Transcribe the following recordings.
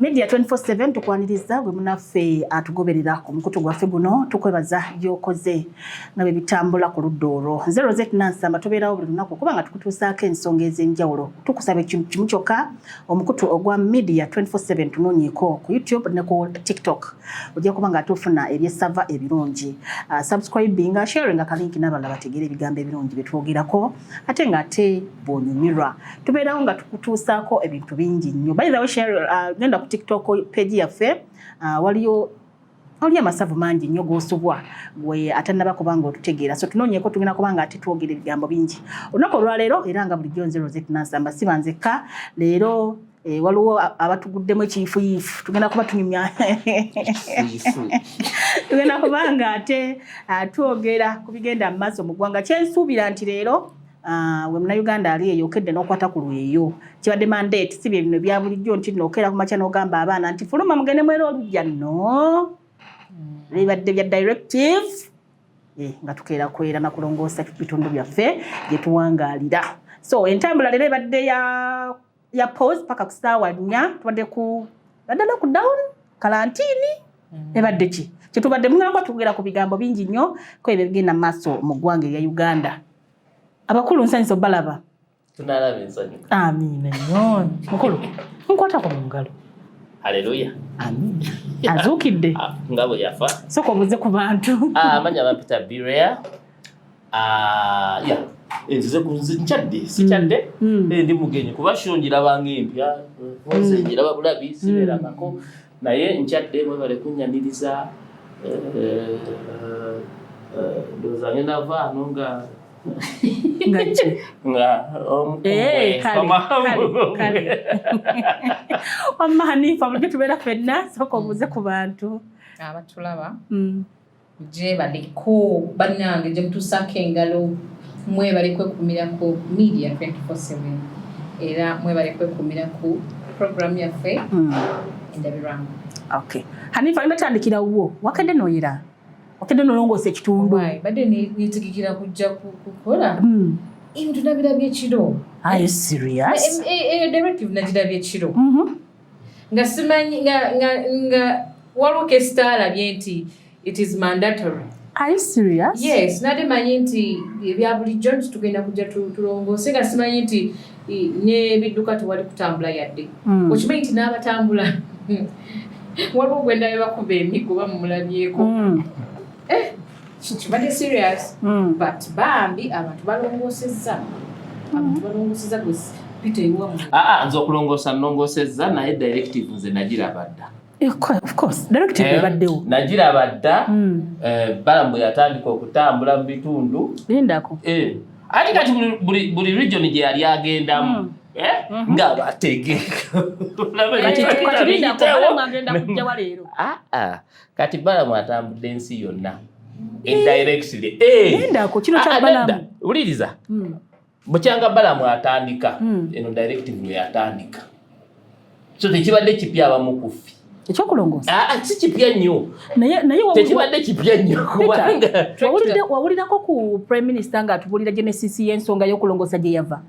media 24/7 tukwaniriza gwe munaffe atugoberera ku mukutu gwaffe guno tukwebaza byokoze nga bye bitambula ku ludda olwo nze rosette nansamba tubeerawo buli lunaku kuba nga tukutuusaako ensonga ez'enjawulo tukusaba ekintu kimu kyokka omukutu ogwa media 24/7 tunoonyeeko ku youtube ne ku tiktok ojja kuba nga tufuna ebyesava ebirungi uh, subscribing nga sharing nga kalinki n'abalala bategeera ebigambo ebirungi bye twogerako ate nga ate bw'onyumirwa tubeerawo nga tukutuusaako ebintu bingi nnyo by the way share uh, genda ku tiktok page yaffe uh, waliyo oli amasavu mangi nnyo gosubwa gwe atanaba kubanga otutegeera so tunoonyeko tugenda kubanga ate twogera ebigambo bingi olunaku olwaleero era nga bulijjo nze rosette nansamba siba nzekka leero Eh, waliwo abatuguddemu ekiyifuyifu tugenda kuba tunyumya tugenda kuba nga ate ah, twogera ku bigenda mu maaso mu ggwanga kyensuubira nti leero Ah, we munauganda ali eyo okedde n'okwata ku lweyo kibadde mandate si bye bino bya bulijjo nti nookeera ku makya n'ogamba abaana nti fuluma mugende mwera olujja no hmm. bibadde bya directive eh, nga tukeera kwera na kulongoosa bitundu byaffe gye tuwangaalira so entambula leero ebadde ya ya pause paka kusaawa nnya tubadde ku baddala ku down kalantiini mm. ebadde ki kyetubadde mugamba tugera ku bigambo bingi nnyo ko ebyo bigenda mu maaso mu ggwanga erya uganda abakulu nsanyisa obalaba tunalaba ensanyu amiina nnyo mukulu nkwatako mu ngalo haleluya amiina azuukidde ah, nga bwe yafa soka obuze ku bantu ah, amanya bampita birea Ah, eh, nzize nkyadde sikyadde mm. mm. eh, ndi mugenyi kuba sho ngirabanga empya eh, nze mm. ngiraba bulabi sibeerangako naye nkyadde mwebale kunyaniriza ndowooza ngenda vaano nga wamma hanifa bulijjo tubeera fenna sooka obuuze ku bantu abatulaba Gyebaliko bannange gyemutuusaako engalo mwebale kwekuumira ku media 24/7 era mwebale kwekuumira ku program yaffe hmm. endabirwamu okay hanifa olina tandikira wuwo wakedde noyira wakedde nolongoosa ekitundu badde netegekera kujja kukola hmm. ebintu nabirabye ekiro eyo eh, eh, eh, directive nagirabye ekiro mm-hmm. nga simanyi nga nga nga waliwo kesita alabye nti it is mandatory Are you serious? Yes, nade manyi nti ebya bulijjo nti tugenda kujja tulongoose nga simanyi nti n'ebidduka tewali kutambula yadde hmm. okimanyi nti n'abatambula waliwo gwendabe bakuba emigo bamulabyeko hmm. eh, kibadde serious hmm. but bambi abantu balongosezza abantu balongosezza gwesi pita iwa mu aa ah, ah, nze okulongoosa nlongosezza naye directive nze nagiraba dda eh, eh, nagiraba dda hmm. eh, balamu yatandika okutambula mu bitundu lindako ati kati buli region gye yali agendamu hmm. Mhm. nga bategeka kati balamu atambudde ensi yonna eh. indirectly eh. ah, ah, wuliriza hmm. bukyanga balamu atandika hmm. eno directive yatandika so tekibadde kipya abamukufi ekyokulongoosa ah, si kipya nnyo tekibadde kipya nnyo wawulirako ku prime minister nga atubulira genesis y'ensonga y'okulongoosa gye yava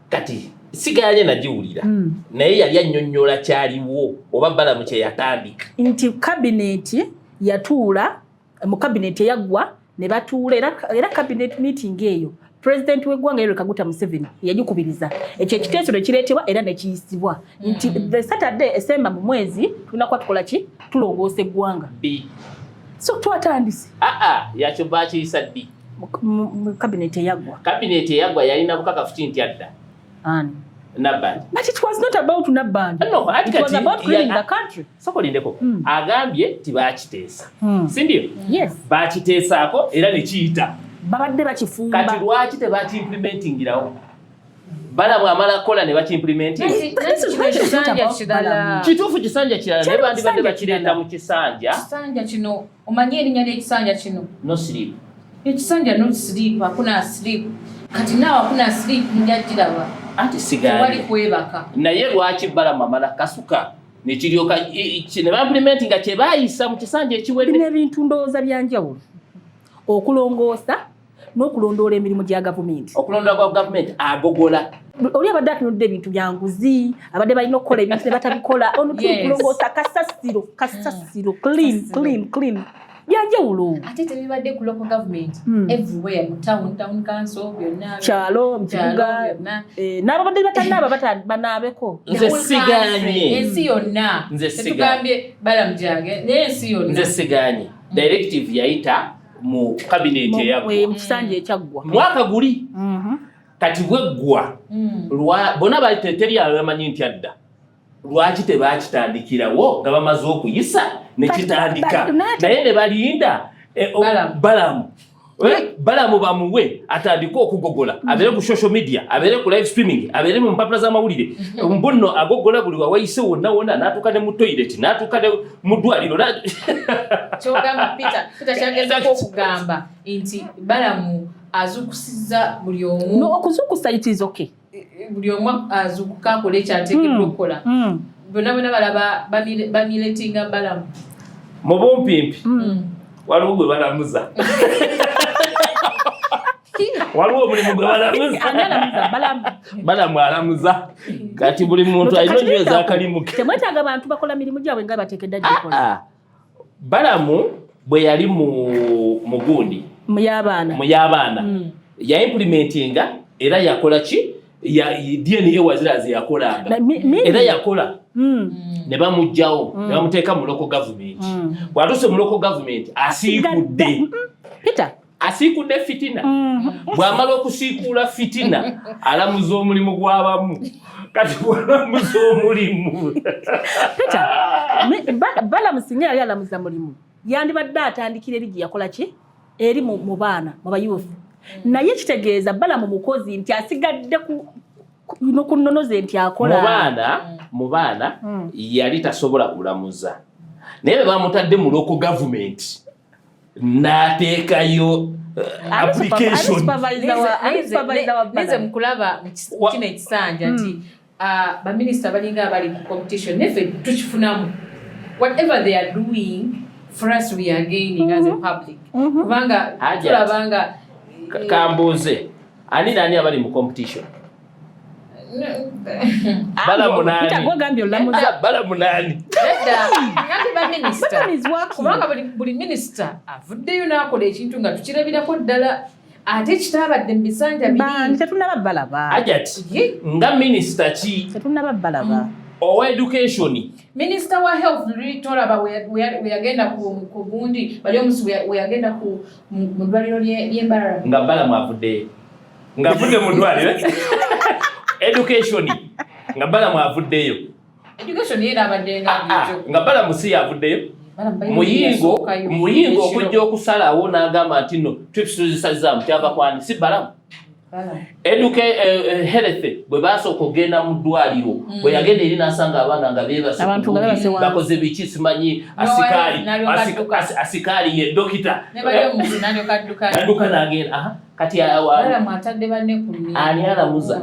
kati siganye nagiwulira mm. naye yali annyonnyola kyaliwo oba balamu kye yatandika nti kabineeti yatuula mu kabineeti eyaggwa ne batuula era kabineeti meeting eyo president w'eggwanga yoweri kaguta museveni yagikubiriza ekyo ekiteeso ne kireetebwa era ne kiyisibwa nti mm. the saturday esemba mu mwezi tulina kuba tukola ki tulongoosa eggwanga so twatandise aa ah, ah, yakyo baakiyisa ddi kabineeti eyaggwa kabineeti eyaggwa yalina bukakafuti nti adda ani Nabandi. But it was not about Nabandi. No, it was about cleaning the country. Soko lindeko. Mm. Agambye ti bakiteesa. Mm. Si ndio? Yes. Bakiteesaako era ne kiyita. Babadde bakifumba. Kati lwaki tebaki implementingirawo? balamu amala kola ne bakimplimentinkituufu kisanja kirala ne bandibadde bakireeta mu kisanja Omanyi erinnya ly'ekisanja kino? No sleep. Ekisanja no sleep, hakuna sleep. Kati naawe hakuna sleep mujja giraba. Ate sigala. Tewali kwebaka. Naye lwaki Balamu amala kasuka? nekiryoka ne bampulimenti nga kye baayisa mu kisanja ekiwedde. Bino ebintu ndowooza bya njawulo okulongoosa. n'okulondoola emirimu gya gavumenti okulondoola kwa gavumenti agogola oli abadde atunudde ebintu byanguzi abadde balina okukola ebintu ne batabikola onukulongoosa kasasiro kasasiro clean clean clean byanjawulo ate tebibadde ku local government hmm. everywhere mu town town council byonna kyalo mkibuga eh, n'abo badde batanaaba banaabeko nze siganye ensi yonna tetugambye balamujange naye ensi yonna nze siganye directive yayita mu kabineeti eyamusanja ekyaggwa mwaka guli mhm. kati bweggwa mm. bona teri abamanyi nti adda lwaki tebakitandikirawo nga bamaze okuyisa nekitandika naye ne balinda eh, oh, balamu Eh? balamu bamuwe atandike okugogola mm-hmm. abeere ku social media abeere ku live streaming abeere mu mpapula z'amawulire mm-hmm. mbunno agogola buli wawayise wonna wonna n'atuuka ne mu toilet n'atuuka mu ddwaliro kyogamba peter peter kyagezako okugamba nti balamu azukusiza buli omu no, okuzukusa it is okay buli omu azukuka akola ekyategeddwa hmm. okukola hmm. bonna bonna balaba bamiletinga balamu mu bumpimpi hmm. waliwo gwe balamuza waliwo omulimu gwe balamu alamuza kati buli muntu alina nyo ezakalimuke temwetaaga bantu bakola mirimu gyabwe nga batekedda gikola ah, ah. balamu bwe yali mu gundi mu y'abaana mm. yaimplementinga era yakola ki ya DNA wazira ze yakola era yakola mm. ne bamujjawo mm. ne bamuteeka mu local government mm. bwatuse mu local government asiikudde mm. Peter asiikudde fitina mm. bwamala okusiikuula fitina alamuza omulimu gw'abamu kati bwalamuza omulimu Peter balamusinga yali alamuza mulimu yandibadde atandikira eri gye yakola ki eri mu mu baana mu bayuuthi naye kitegeeza balamu mukozi nti asigadde ku no ku nnono ze nti mu akola baana mu baana Mm. yali tasobola kulamuza naye bwe bamutadde mu loko gavumenti n'ateekayo eh, Ani super- ani application supervisor wa- ani supervisor wa Nize Balamu? mukulaba mu kis- Wa- kino ekisanja nti Uh, baminisita balinga abali mu competition neffe tukifunamu whatever they are doing for us we are gaining mm -hmm. as a mm-hmm. public mm -hmm. kubanga tulabanga eh, kambuuze ani nani abali mu competition bala munani bala munani kubanga buli minisita avuddeyo n'akola ekintu nga tukirabirako ddala ate kitaabadde mu bisanja bibiri tetunaba balaba ajat nga minisita ki tetunaba balaba mm. owa education minisita wa health tolaba weyagenda ku gundi bali omusi weyagenda mu ddwaliro ly'embarara nga bala mwavuddeyo ngavudde mu ddwaliro education nga bala mwavuddeyo education era abadde nga ah, ah, nga bala musi yavuddeyo muyingo muyingo okujja okusalawo n'agamba nti no trips tuzisazaamu kyava kwani si balamu eduke eh, eh, health bwe basooka okugenda mu ddwaliro mm. bwe yagenda eri n'asanga abaana nga beebabakoze biki simanyi asikaali asikaali ye dokita nadduka n'agenda kati ani alamuza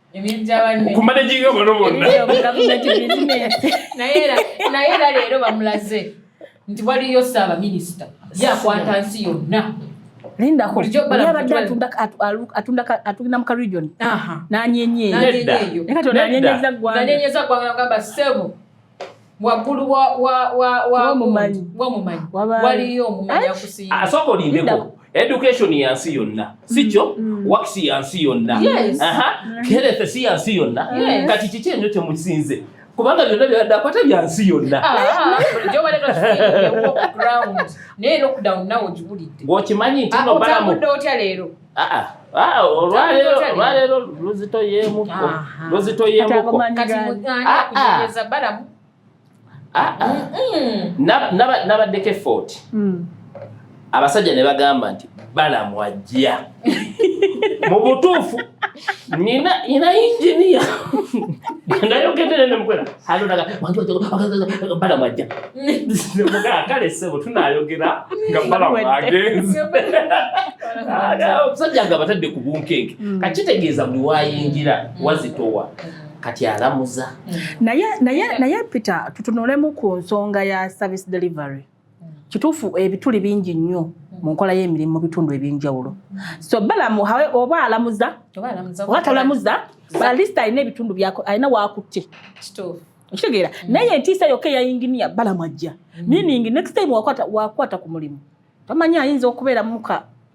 ku managing abano bonna naye era leero bamulaze nti waliyo saaba minisita yakwata nsi yonna lindakatunda mu karegion nanyenyeeyo nanyenyeza gwanga sebo waggulu wamumanyi waliyo omumanyi akusiiba asooka ah, olindeko education ya nsi yonna sikyo mm, mm. wax ya nsi yonna mm. health si ya nsi yonna kati kiki enyo kyemusinze kubanga byonna byadakwata bya nsi yonna ah, ah, okimanyi nti nobalamu olwaleero luzito yemuko luzito yemuko nabaddeko efooti abasajja ne bagamba nti balamu ajja mu butuufu nina ina injinia ndayogedere nemukwera alondaga bala mwajja mugala kale sebo tunayogera nga bala mwagenze omusajja nga batadde ku bunkenke mm. kakitegeeza buli wayingira mm. wazitowa kati alamuza naye naye naye peter tutunulemu ku nsonga ya service delivery kituufu ebituli bingi nnyo mu nkola y'emirimu mu bitundu eby'enjawulo so balamu oba alamuza oba talamuza balista alina ebitundu byako alina wakutte okitegeera mm. naye entiisa yokka eya yinginiya balamu ajja mm. meaning next time wakwata ku mulimu tamanyi ayinza okubeera muka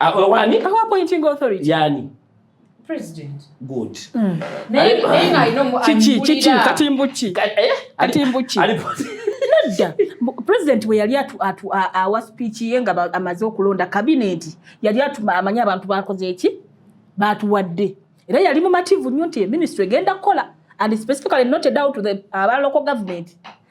Awani? Awa appointing authority. Yani. President. Good. Mm. Naye nga ino mu chichi chichi katimbuchi. Eh? Katimbuchi. Nedda. President we yali atu atu awa speech ye nga amaze okulonda cabinet yali atu amanya abantu bakoze eki batuwadde. Era yali mu mativu nnyo nti ministry egenda kukola and specifically not a doubt to the uh, local government.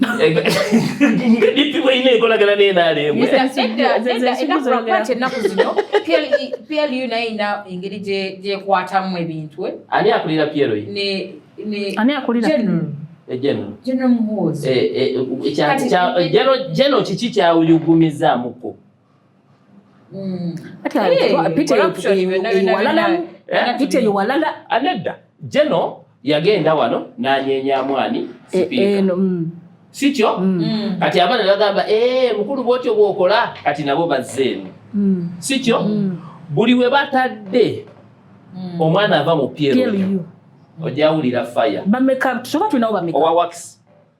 nga DP bweyina enkolagana n'enaleemu ennaku zino PLU naye ina engeri gyekwatamu ebintu eh? ani akulira PLU ani akulira General General Muhoozi eh, eh, kiki kyawuyugumizaamuko anedda jeno yagenda wano nanyenya mwani eh, eh, mm. sikyo mm. Mm. kati abaana bagamba eh, mukulu bwotyo bwokola kati nabo bazzeemu sikyo buli we batadde omwana ava mu plu ojawulira fire owa wax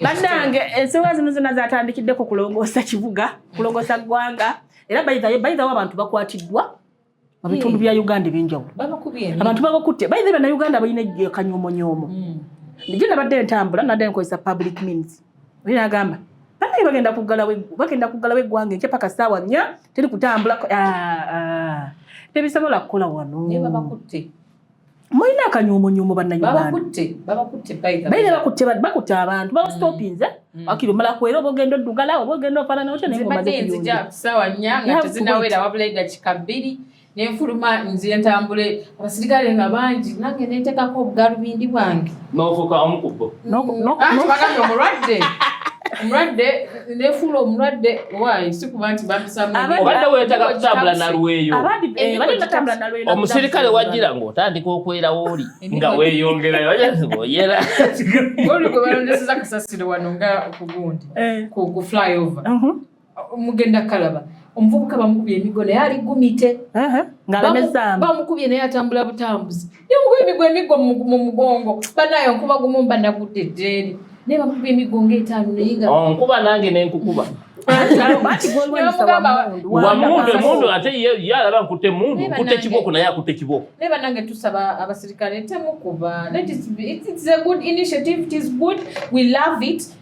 bannange ensonga zino zonna zatandikidde ku kulongoosa kibuga kulongoosa ggwanga era bayithawo abantu bakwatiddwa mu bitundu bya uganda ebyenjawulo abantu babakutte bayithe bannayuganda balina kanyomonyoomo hmm. nje nabadde entambula nadde nkozesa public means oye nagamba banaye bagenda kugalabagenda kuggalawo eggwanga enkya paka saawa nnya teri kutambula ah, ah. tebisobola kukola wano mulina akanyuumunyuumu bannanyubakutte abantu babasitopinze mm. mm. akiri omala kuera oba ogenda oddugala oba ogenda ofanana otyo nayenzijasaawa nya nga tezinawera wabula edakika bbiri nenfuluma nzire ntambule abasirikale nga bangi nange nentekako obugalubindi bwange nofuka omukubbo nokubagambye omulwadde omulwadde nefuula omulwadde waayi sikuba nti bampisamuobadde wetaaga kutambula nalweyo eh, omusirikale wajira ngaotandika okwerawo oli nga weyongerayoyera oli gwe balondeseza kasasiro wano nga kugundi eh. ku flyover uh-huh. mugenda kalaba omuvubuka bamukubye emigo naye ali gumite uh-huh. bamukubye naye atambula butambuzi nemukuba emiggo emiggo mu mugongo banaye nkuba gumu mba nagudde ddeeri naye bamukuba emiggo ngaetaano naye nga oh, nkuba nange nenkukuba wamundu emundu ate ye alaba nkutte emundu nkutte ekiboko naye akutte ekiboko naye banange tusaba abasirikale temukuba that is it's a good initiative it is good we love it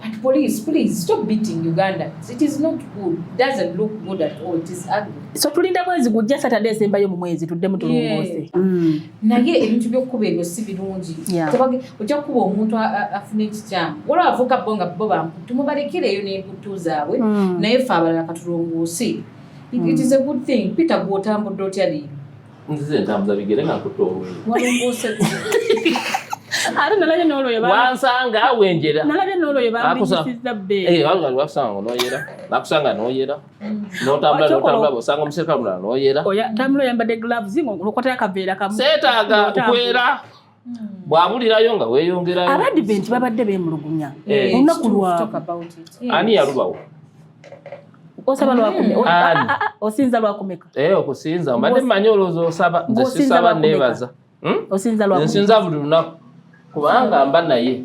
But police, please stop beating Ugandans. It is not good. It doesn't look good at all. It is ugly. So tulinda mwezi gujja Saturday esembayo mu mwezi tuddemu tulongoose. Mm. Naye ebintu by'okukuba ebyo si birungi. Tebage ojja kukuba omuntu afuna ekikyamu. Waliwo avuka bo nga bo bamputu mubalekereyo n'emputtu zaabwe mm. naye ffe abalala katulongoose. It, it mm. is a good thing. Peter gw'otambudde otya leero? nzize entambuza bigere nga nkutte oluyi ate nalabye n'olwoyo wansanga wenjera nalabye n'olwoyo bambiyisizza bbeeyi eh, wakusanga nga noyera nakusanga noyera mm. notambula notambula bosanga omuserikale mulala noyera tambula oyambadde gloves ng'okwatayo akaveera kamu seetaaga okwera bwabulirayo nga weyongerayo abadiventi babadde bemulugunya eh. olunaku lwani yalubawo osaba lwakumeka mm. ah, ah, ah, osinza lwakumeka eh, okusinza mbadde manyi olowooza osaba nze sisaba nebaza hmm? osinza lwakumeka nsinza buli lunaku kubanga mba naye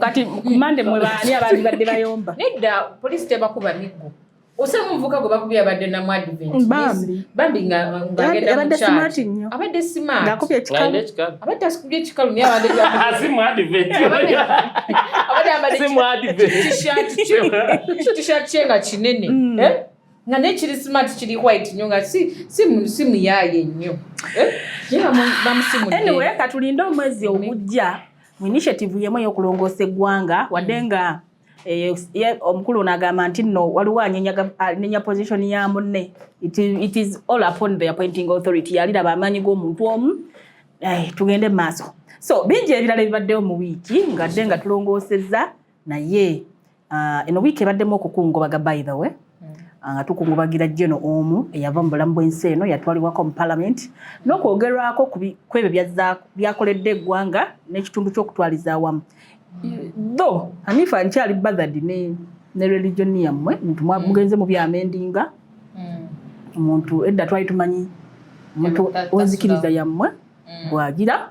kati kumande mwe baani abaali badde bayomba nedda poliisi tebakuba miggo osanga omuvuka gwe bakubye abadde namu adventbambi ngaabadde simaati nnyo abadde simaatiakubye ekikaluabadde asikubye ekikalu naye abaddeabadde t-shirt kye nga kinene mm. eh? nga ne kiri smart kiri white nyo nga si si si muyaye nyo eh yera mu bamusimu anyway katulinde omwezi ogujja mu initiative yemo yo kulongosa egwanga wadenga mm. Eh, omukulu ono agamba nti no waliwo anenya position ya munne it is all upon the appointing authority yaliraba amaanyi g'omuntu omu eh, tugende maaso so bingi ebirala ebibaddewo mu wiiki ngadde nga tulongoosezza naye Ah, eno wiiki ebaddemu okukungubaga by the way mm. ah, nga tukungubagira jeno omu eyava mu bulamu bw'ensi eno yatwalibwako mu palamenti n'okwogerwako ku ebyo byakoledde eggwanga n'ekitundu ky'okutwaliza awamu tho hanifa nkyali bathard ne religion yammwe nti mm. mugenze mu byamendinga mm. omuntu edda twali tumanyi omuntu wenzikiriza yammwe bwagira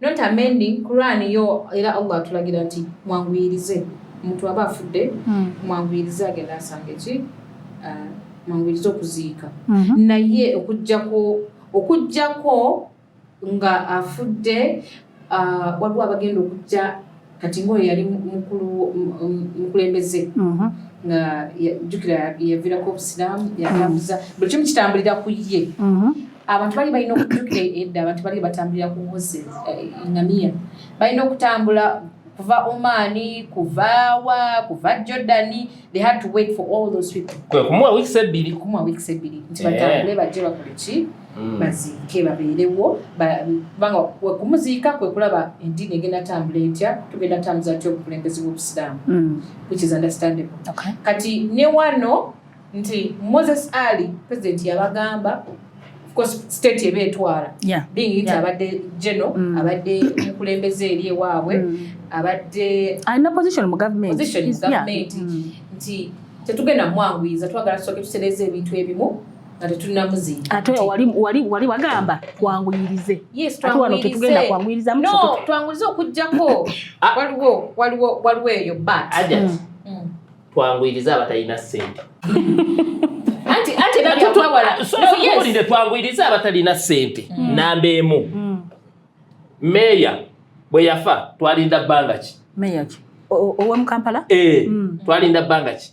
not amending Quran yo era Allah atulagira nti mwanguyirize omuntu aba afudde hmm. mwanguyirize agenda asanga eki uh, mwanguyirize okuziika mhm. naye okujjako okujjako nga afudde uh, waliwo abagenda okujja kati ng'oyo yali mukulembeze mhm. nga jjukira yaviirako obusiraamu yatambuza mhm. buli kimu kitambulira ku ye mhm. abantu bali balina okujjukira edda abantu bali batambulira ku mose eh, ngamiya balina okutambula kuva omani kuvaawa kuva jordani they had to wait for all those people kumuwa weeks ebbiri kumuwa weeks ebbiri nti batambule eh. bajje bakoleki Mm. baziike babeerewo kubanga wekumuziika kwe kulaba endiini egenda tambula etya tugenda tambuza tya obukulembeze bwobusiraamu mm. which is understandable kati ne wano nti moses ali president yabagamba state eba etwala being it abadde geno mm. abadde omukulembeze eri ewaabwe abadde alina position mu government nti tetugenda mwanguyiza twagala tusoke tusereeza ebintu ebimu ate wali wagamba twanguyirize ate wano tetugenda kwanguyiriza twanguyirize okujjako ah. waliwo waliwo waliwo eyo bat mm. mm. twanguyirize abatalina sente tuwulire twanguyirize abatalina sente mm. namba emu meeya bwe yafa twalinda bbanga ki meeya ki owe mukampala eh, twalinda bbanga ki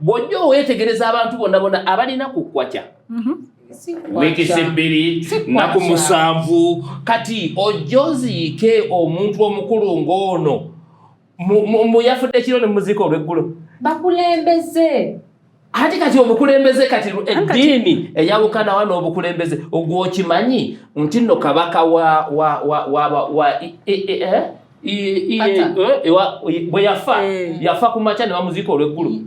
bw'ojja oweetegereza abantu bonna bona abalina ku kwaca mhm. wiikisi bbiri naku musanvu kati ojja oziike omuntu omukulu ng'ono muyafudde kiro ne muziika olw'eggulo bakulembeze ati kati obukulembeze kati eddiini eyawukana wa n'obukulembeze ogwokimanyi nti no kabaka wa wa wa wa wa e, e, e, eh? bwe yafa eh. yafa ku makya ne bamuziika olw'eggulu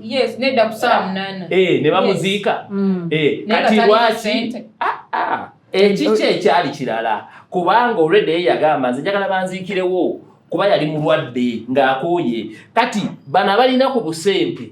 eh, ne bamuziika mm. eh, kati lwaki ah, ah. ekiki ekyali kirala kubanga olwedde ye yagamba nze njagala banziikirewo kuba yali mulwadde ng'akooye kati bano abalina ku busente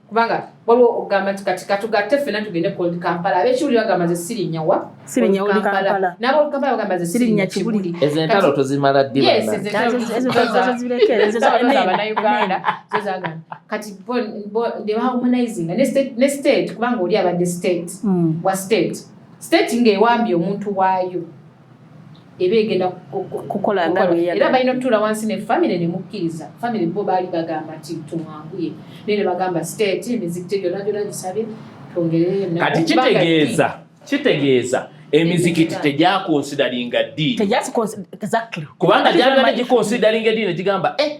kubanga waliwo okugamba nti kati katugatte ffena tugende kold kampala abekiwuli bagamba ze sirinyawa nabolkampala bagamba ze sirinya kibuli ezo entalo tozimala ddibanayuganda zozagana kati debahumanizinga ne state kubanga oli abadde state hmm. wa state state ngaewambye omuntu waayo eba egenda kukola nga era balina okutuula wansi ne famire ne mukkiriza famire bo baali bagamba nti tumwanguye naye ne bagamba state emizikiti gyona gyona gisabye twongereyo kati kitegeeza kitegeeza emizikiti tegyakonsidalinga ddiini kubanga gyagala gikonsidalinga eddiini negigamba eh,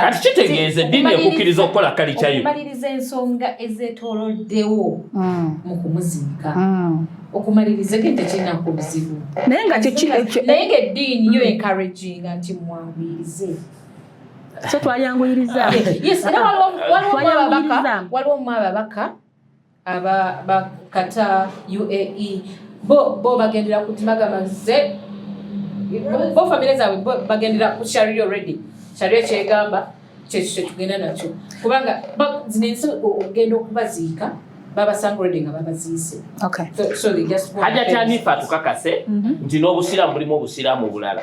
kati kitegeeza eddiini ekukkiriza okukola kalica yo okumaliriza ensonga ezetoloddewo hmm. mu kumuziika hmm. okumaliriza ke tekirina ku buzibu naye nga naye nga eddiini yo hmm. enkaraginga nti mwabirize so twayanguyiriza waliwo mu ababaka aba ba Qatar UAE bo bo bagendera ku timagama ze bo famire zaabwe bo bagendera ku sharia already sharia kyegamba kyekyo kyetugenda nakyo kubanga zino ensi okugenda okubaziika babasanga already nga babaziise hajja kyanifa tukakase mhm. nti n'obusiraamu bulimu obusiraamu obulala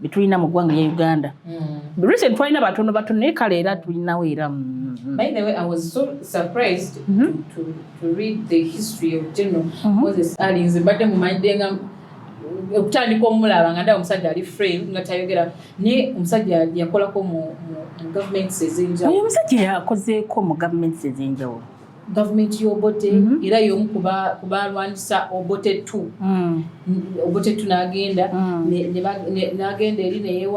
bitulina mu ggwanga lya uganda mm. recent twalina batono batono naye kale era tulinawo era mm, mm. by the way i was so surprised mm -hmm. to, to read the history of general mm -hmm. moses ali nze mbadde mumanyidde nga okutandika omulaba nga ndaba omusajja ali frame nga tayogera naye omusajja yakolako mu governments ezenjawulo omusajja yakozeeko mu governments ezenjawulo gavumenti y'obote mm -hmm. era y'omu ku baalwanyisa obote tu mm. obote tu n'agenda mm. n'agenda eri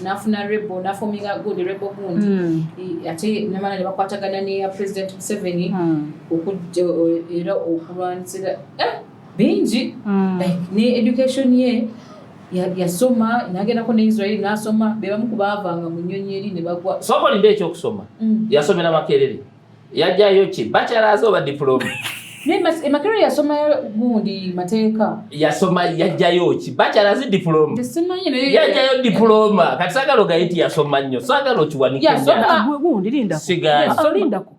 n'afuna rebo n'afominga gundi rebo gundi mm. ate namala ne bakwatagana neya president museveni mm. era okulwanyisira eh! bingi mm. like ne education ye yasoma nagendako ne Israel nasoma bebamu kubavanga mu nyonyi eri ne bagwa soko linde ekyokusoma mm. yasomera makerere yajayo ki bachelors oba diploma emakerere yasoma gundi mateeka yasoma yajayo ki bachelors diploma yajayo diploma kati sagala ogayiti yasoma nnyo sagala okiwanikgundi lindako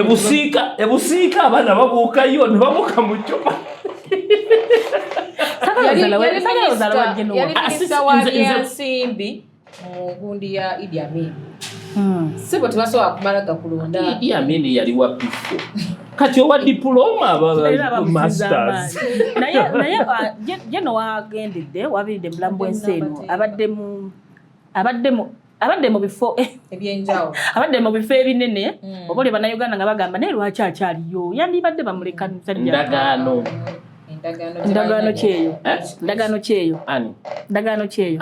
ebusiika ebusiika abaana babuukayo ne babuuka mu ccupa nsimbi mu gundi ya Idi Amin hmm. sibo tebasobola kumala gakulonda Idi Amin yali wa pifo kati owa diploma masters naye naye ah, jeno wagendedde wabiridde mulamu bwensi eno abadde mu abadde mu abadde mu bifo ebyenjawulo abadde mu bifo ebinene mm. oba oli bannayuganda nga bagamba naye lwaki akyaliyo yandibadde bamuleka ndagaano ndagaano kyeyo ndagaano kyeyo ndagaano kyeyo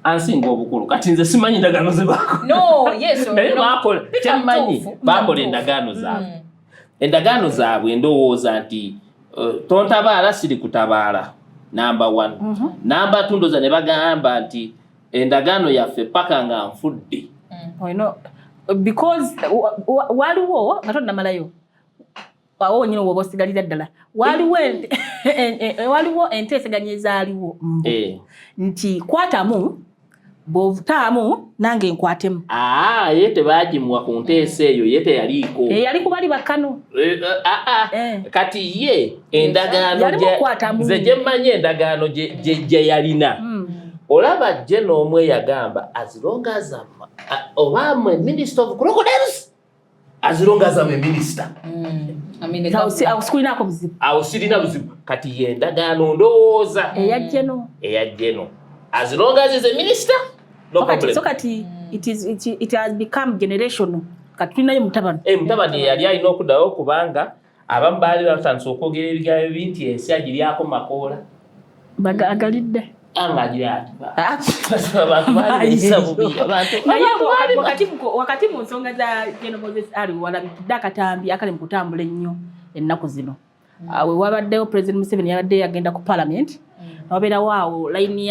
ansinga obukulu kati nze simanyi ndagaano zebakola kyammanyi bakola endagaano zaabwe mm. endagaano zaabwe ndowooza nti eh, tontabaala siri kutabaala namba one mhm. namba tundoza ne bagamba nti endagaano yaffe paka nga nfudde mm. because waliwo nga tonnamalayo awo wenyini woba osigalira ddala waliwo eh. enteeseganya ezaaliwo eh. nti kwatamu bwovutaamu nange nkwatemu ah, ye tebagimuwa ku nteesa eyo ye teyaliiko eh, yali kubali bakkano eh, eh, ah, ah. kati ye endagaano nze gyemmanyi endagaano gye yalina hmm. olaba jje n'omu eyagamba azirongazama oba mwe minister of crocodiles azirongazama eminister hmm. awo sirina buzibu kati yendagaano ndowooza eyajjeno azirongazis eminister so kati it has become generational kati tulinayo mutabani eh, mutabani yali alina okuddayo kubanga abamu baali batandise okwogera ebigambo ebi nti ensi agiryako makoola agalidde wakati mu nsonga za geno moses ali walabitudde akatambi akali mu kutambula ennyo ennaku zino mm. ah, wewabaddewo president museveni yabadde yagenda ku palamenti wabeerawo awo layini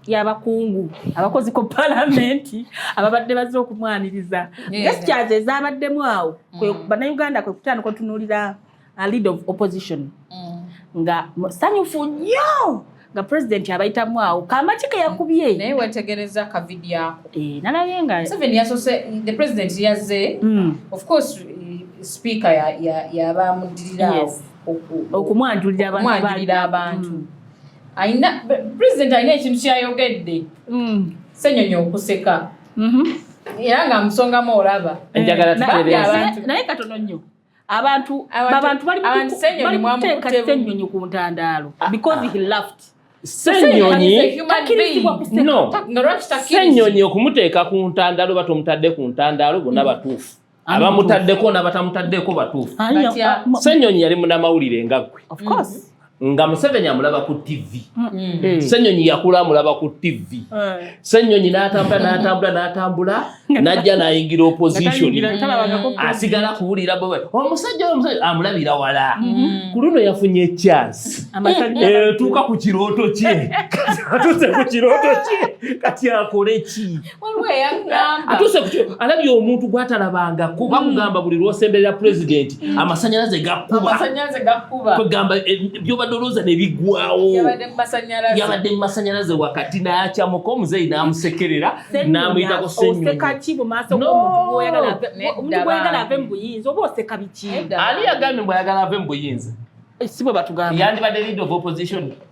y'abakungu abakozi ku palamenti ababadde bazze okumwaniriza gestures ezabaddemu awo mm. bannayuganda kwe kutandika otunuulira uh, lead of opposition mm. nga sanyufu nnyo nga pulezidenti abayitamu awo kamaki ke yakubye naye wetegereza kavidiyo ako eh, nalaye nga museveni yasose the president yazze mm. of course eh, speaker yabamuddirira awo okumwanjulira abantu mm. alina president alina ekintu kyayogedde mm. senyonyi okuseka mm-hmm. era nga musongamu olaba naye katono nnyo abantu abantu bali kuteeka senyonyi ku ntandaalo ah, because ah. he laughed senyonyi no senyonyi okumuteeka ku ntandaalo oba tomutadde ku ntandaalo bonna mm. batuufu abamutaddeko nabatamutaddeko batuufu uh, senyonyi yali munamawulire nga gwe mm-hmm. nga museveni amulaba ku tv mm. Mm. Mm. senyonyi yakula amulaba ku tv senyonyi natambula natambula natambula najja nayingira opposition asigala kuwulira omusajja amulabira wala mm-hmm. ku luno yafunye echansi etuuka ku kirooto kye atuse ku kirooto kye kati akole ki atuuse ku kyo alabye omuntu gwatalabangako mm. bakugamba buli lwosemberera pulezidenti mm. amasanyalaze gakkubakwegamba eh, byobadde olowooza nebigwawo yabadde mu masanyalaze wakati nayakyamuka omuzeeyi namusekerera namuyitako senyuani yagambye mbu ayagala ave mu buyinza eh, sibwe batugamba yandibadde lead of opposition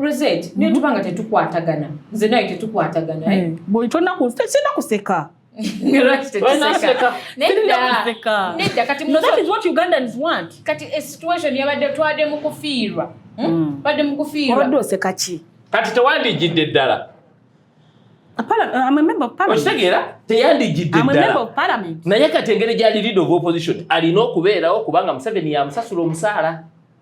Rosette, hmm? niyo hmm? tubanga tetukwatagana. Nze nayo tetukwatagana. Eh? Hmm. Boy, tona ku, tena kuseka. Nero tena kuseka. Nenda kuseka. Nenda kati muzo. No, that is what Ugandans want. Kati a situation yabadde twade mu kufiirwa. Hmm? Bade mu kufiirwa. Wabadde oseka ki? Kati tewandigidde ddala. okitegeera teyandigidde ddala naye kati engeri gyali lead of opposition alina okubeerawo kubanga museveni yamusasula omusaala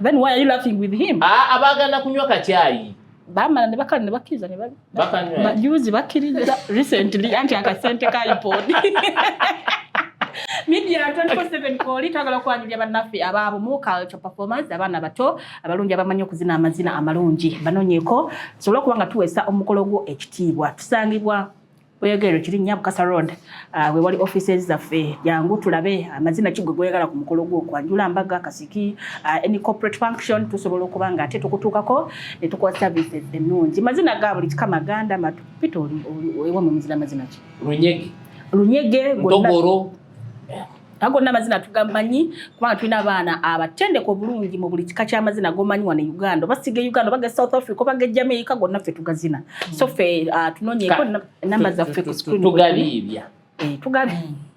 Then why are you laughing with him? Ah, abagana kunywa kachai. Bamala ne bakali ne bakiriza ne bali. Bakanywa. Bajuzi bakiriza recently anti akasente ka iPod. Media 24/7 koli twagala okwanjulira bannaffe abaabo mu culture performance abaana bato abalungi abamanyi okuzina amazina amalungi banoonyeko tusobole okuba nga tuweesa omukolo gwo ekitiibwa tusangibwa oyogera ekirinya bukasa road ah, we wali offices zaffe jangu tulabe amazina ah, kigwe goyagala ku mukolo gwo kwanjula mbaga kasiki ah, any corporate function tusobola okuba nga ate tukutuukako ne tukuwa services ennungi mazina ga buli kika maganda matu pita ewa mu muzira mazina ki lunyege lunyege ntogoro ago gonna amazina tugamanyi kubanga tulina abaana abatendeka obulungi mu buli kika ky'amazina gomanyi wano e uganda oba siga e uganda obaga south africa obaga e jamaica gonna ffe tugazina so ffe uh, tunonyeeko namba zaffe ku screen tugabiibya eh, tugabiibya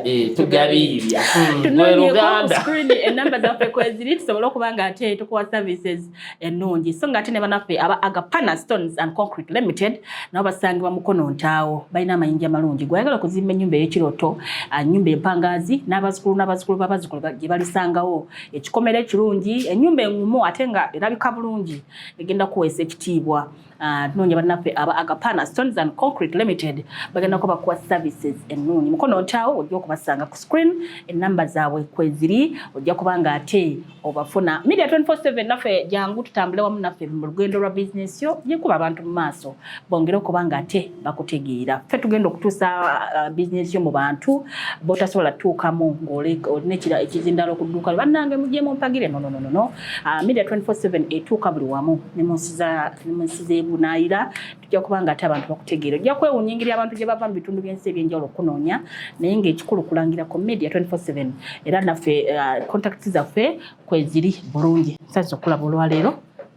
Eh, tugabiibya hmm. tunoonyekonamba zaffe kweziri tusobole okuba nga ate tukuwa services ennungi so nga ate ne banaffe aba agapana stones and concrete limited nabo basangibwa mukono ntaawo balina amayinja amalungi gweyagala okuzimba ennyumba ey'ekirooto ennyumba ah, empangaazi n'abazukulu n'abazukulu b'abazukulu gye balisangawo ekikomera ekirungi ennyumba engumu ate nga erabika bulungi egenda kuweesa ekitiibwa Ah, tunoonya bannaffe aba agapana stones and concrete limited bagendako bakuwa services ennungi mukono ntaawo ojja okubasanga ku screen enamba zaabwe kweziri ojja kuba nga ate obafuna media 247 naffe jangu tutambule wamu naffe mu lugendo lwa bizinesi yo yekuba abantu mu maaso bongere okuba nga ate bakutegeera ffe tugenda okutuusa ah, bizinesi yo mu bantu botasobola tuukamu ng'olina ekizindalo okudduuka bannange mujemu mpagire nonononono Uh, media 24/7 etuuka buli wamu ne munsi za ne munsi z'ebunaayira tujja kuba nga ate abantu bakutegeera ojja kwewuunya engeri abantu gye bava mu bitundu by'ensi eby'enjawulo okunoonya naye ng'ekikulu kulangira ku media 24/7 era naffe uh, contact zaffe kweziri bulungi nsanyusa okulaba olwaleero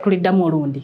tuliddamu olundi